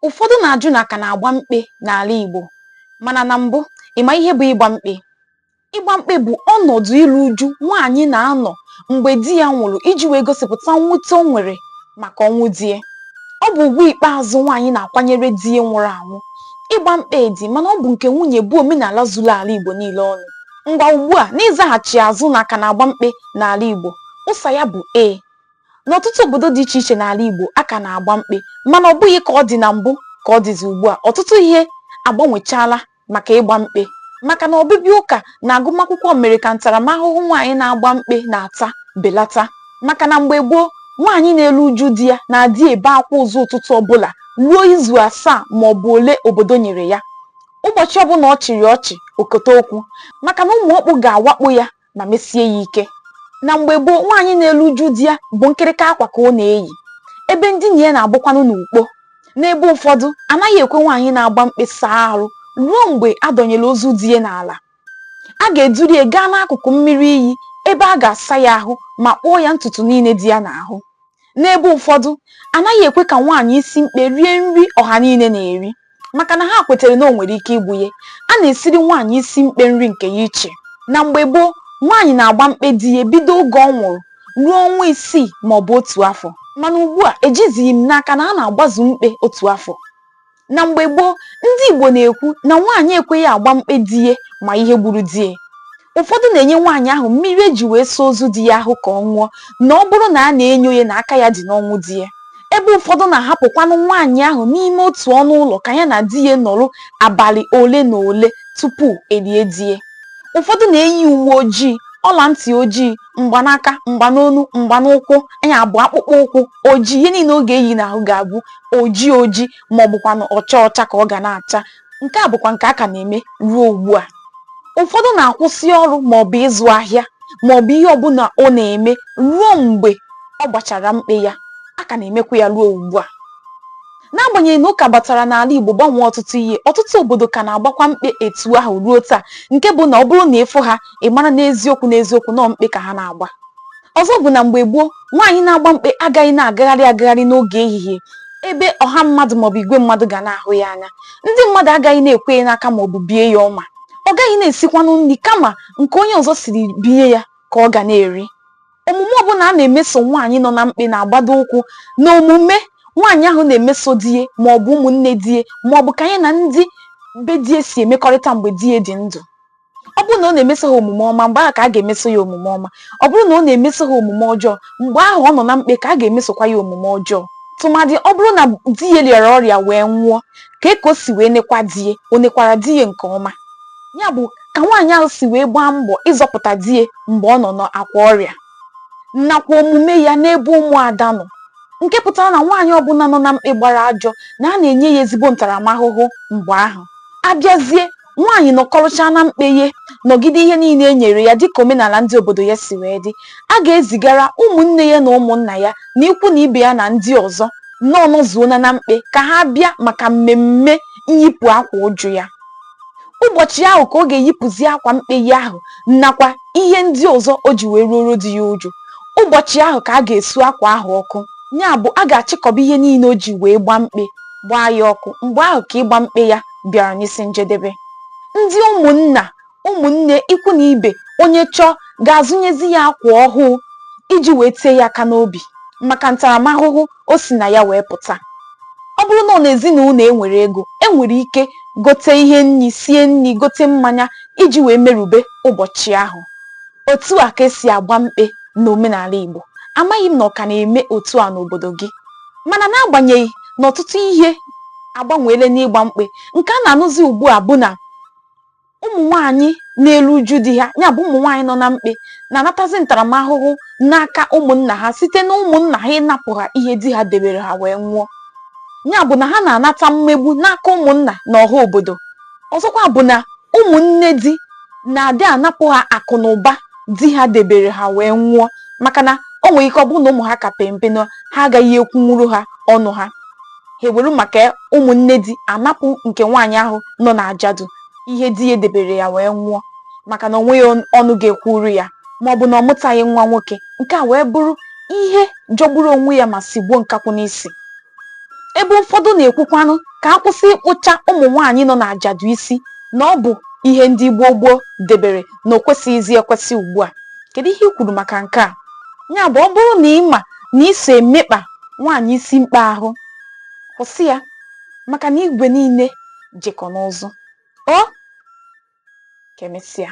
Ụfọdụ na-ajụ na a ka na-agba mkpe n'ala Igbo mana na mbụ ị ma ihe bụ ịgba mkpe? Ịgba mkpe bụ ọnọdụ iru uju nwaanyị na-anọ mgbe di ya nwụrụ iji wee gosipụta mwute o nwere maka ọnwụ di ya. Ọ bụ ugwu ikpeazụ nwaanyị na-akwanyere di ya nwụrụ anwụ. Ịgba mkpe di mana ọ bụ nke nwunye bụ omenala zuru ala Igbo niile ọnụ. Ngwa ugbu a n'ịzaghachi azụ na a ka na-agba mkpe n'ala Igbo, ụsa ya bụ ee. N'ọtụtụ obodo dị iche iche n'ala Igbo, a ka na-agba mkpe mana ọ bụghị ka ọ dị na mbụ ka ọ dịzi ugbu a. Ọtụtụ ihe agbanwechaala maka ịgba mkpe maka na ọbịbịa ụka na agụmakwụkwọ mere ka ntaramahụhụ nwaanyị na-agba mkpe na-ata belata maka na mgbe gboo, nwaanyị na-eru uju di ya na-adị ebe akwa ụzọ ụtụtụ ọbụla ruo izu asaa ma ọ bụ ole obodo nyere ya. Ụbọchị ọbụla ọ chịrị ọchị, o kote okwu maka na ụmụ ọkpụ ga-awakpo ya ma mesie ya ike na mgbe gboo nwaanyị na-elu uju di ya bụ nkịrịka akwa ka ọ na-eyi ebe ndina ya na-abụkwanụ n'ukpo n'ebe ụfọdụ a naghị ekwe nwaanyị na-agba mkpe saa arụ ruo mgbe a dọnyere ozu di ya n'ala a ga-eduru ya gaa n'akụkụ mmiri iyi ebe a ga-asa ya ahụ ma kpụọ ya ntutu niile dị ya n'ahụ N'ebe ụfọdụ, a naghị ekwe ka nwaanyị isi mkpe rie nri ọha niile na-eri maka na ha kwetere na o nwere ike igbu ya. A na-esiri nwaanyị isi mkpe nri nke ya iche. Na mgbe gboo, nwaanyị na-agba mkpe di ya bido oge ọ nwụrụ ruo ọnwa isii maọbụ otu afọ. Mana ugbua, ejizighị m n'aka na a na-agbazu mkpe otu afọ. na mgbe gboo ndị Igbo na-ekwu na nwaanyị ekweghị agba mkpe di ya ma ihe gburu di ya ụfọdụ na-enye nwaanyị ahụ mmiri e ji wee saa ozu di ya ahụ ka ọ ṅụọ na ọ bụrụ na a na-enyo ya na aka ya dị n'ọnwụ di ya ebe ụfọdụ na-ahapụkwanụ nwaanyị ahụ n'ime otu ọnụ ụlọ ka ya na di ya nọrọ abalị ole na ole tupu e lie di ya ụfọdụ na-eyi uwe ojii ọla ntị ojii mgba n'aka mgba n'onu mgba n'ụkwụ nya bụ akpụkpọ ụkwụ ojii ihe niile ọ ga-eyi n'ahụ ga-abụ ojii ojii ma ọ bụkwanụ ọcha ọcha ka ọ ga na-acha nke a bụkwa nke a ka na-eme ruo ugbu a ụfọdụ na-akwụsị ọrụ ma ọ bụ ịzụ ahịa ma ọ bụ ihe ọbụla ọ na-eme ruo mgbe ọ gbachara mkpe ya a ka na-emekwa ya ruo ugbu a N'agbanyeghị na ụka batara n'ala Igbo gbanwee ọtụtụ ihe, ọtụtụ obodo ka na-agbakwa mkpe etu ahụ ruo taa nke bụ na ọ bụrụ na ị fụ ha, ị mara n'eziokwu n'eziokwu na ọọ mkpe ka ha na-agba. Ọzọ bụ na mgbe gboo, nwaanyị na-agba mkpe agaghị na-agagharị agagharị n'oge ehihie ebe ọha mmadụ maọbụ igwe mmadụ ga na-ahụ ya anya. Ndị mmadụ agaghị na-ekwe ya n'aka maọbụ bie ya ọma. Ọ gaghị na-esikwanụ nri kama nke onye ọzọ siri binye ya ka ọ ga na-eri. omume ọbụla a na-emeso nwaanyị nọ na mkpe na-agbado ụkwụ na omume nwaanyị ahụ na-emeso di ya ma ọ bụ ụmụnne di ya ma ọ bụ ka ya na ndị be di ya si emekọrịta mgbe di ya dị ndụ ọ bụrụ na ọ na-emeso ha omume ọma mgbe ahụ ka a ga-emeso ya omume ọma ọ bụrụ na ọ na-emeso ha omume ọjọọ mgbe ahụ ọ nọ na mkpe ka a ga-emesokwa ya omume ọjọọ tụmadị ọ bụrụ na di ya rịara ọrịa wee nwụọ ka e ka o si wee nekwa di ya o nekwara di ya nke ọma ya bụ ka nwaanyị ahụ si wee gbaa mbọ ịzọpụta di ya mgbe ọ nọ n'akwa ọrịa nakwa omume ya n'ebe ụmụada nọ nke pụtara na nwaanyị ọbụla nọ na mkpe gbara ajọ na a na-enye ya ezigbo ntaramahụhụ mgbe ahụ a bịazie nwaanyị nọkọrọchaa na mkpe ya nọgide ihe niile e nyere ya dịka omenala ndị obodo ya si wee dị a ga-ezigara ụmụnne ya na ụmụnna ya na ikwu na ibe ya na ndị ọzọ na ọ nọzuona na mkpe ka ha bịa maka mmemme nyipụ akwa uju ya ụbọchị ahụ ka ọ ga-eyipụzi akwa mkpe ya ahụ nakwa ihe ndị ọzọ o ji wee ruoro di ya uju ụbọchị ahụ ka a ga-esu akwa ahụ ọkụ ya bụ a ga-achịkọba ihe niile o ji wee gbaa mkpe gbaa ya ọkụ mgbe ahụ ka ịgba mkpe ya bịara n'isi njedebe ndị ụmụnna ụmụnne ikwu na ibe onye chọọ ga-azụnyezi ya akwa ọhụụ iji wee tie ya aka n'obi maka ntaramahụhụ o si na ya wee pụta ọ bụrụ na ọ na ezinụlọ e nwere ego e nwere ike gote ihe nri sie nri gote mmanya iji wee merube ụbọchị ahụ otu a ka e si agba mkpe n'omenala Igbo amaghị m na ọ ka na-eme otu a n'obodo gị mana n'agbanyeghị na ọtụtụ ihe agbanweela n'ịgba mkpe nke a na-anụzi ugbu a bụ na ụmụ nwaanyị na-eru uju di ha ya bụ ụmụ nwaanyị nọ na mkpe na-anatazi ntaramahụhụ n'aka ụmụnna ha site na ụmụnna ha ịnapụ ha ihe di ha debere ha wee nwụọ ya bụ na ha na-anata mmegbu n'aka ụmụnna na ọha obodo ọzọkwa bụ na ụmụnne di na-adị anapụ ha akụ na ụba di ha debere ha wee nwụọ maka na o nwere ike ọ bụrụ na ụmụ ha ka pempe na ha agaghị ekwunwuru ha ọnụ ha ha ewere maka ụmụnne di anapụ nke nwaanyị ahụ nọ na ajadu ihe di ya debere ya wee nwụọ maka na o nweghị ọnụ ga-ekwuru ya ma ọ bụ na ọ mụtaghị nwa nwoke nke a wee bụrụ ihe jọgburu onwe ya ma sigbuo nkakwụ n'isi ebe ụfọdụ na-ekwukwanụ ka a kwụsị ịkpụcha ụmụ nwaanyị nọ n'ajadu isi na ọ bụ ihe ndị gboo gboo debere na o kwesịghịzi ekwesị ugbu a kedu ihe i kwuru maka nke a ya bụ ọ bụrụ na ị ma na i so emekpa nwaanyị isi mkpe ahụ kwụsị ya maka na igwe niile jekọ n'ụzụ o ka emesịa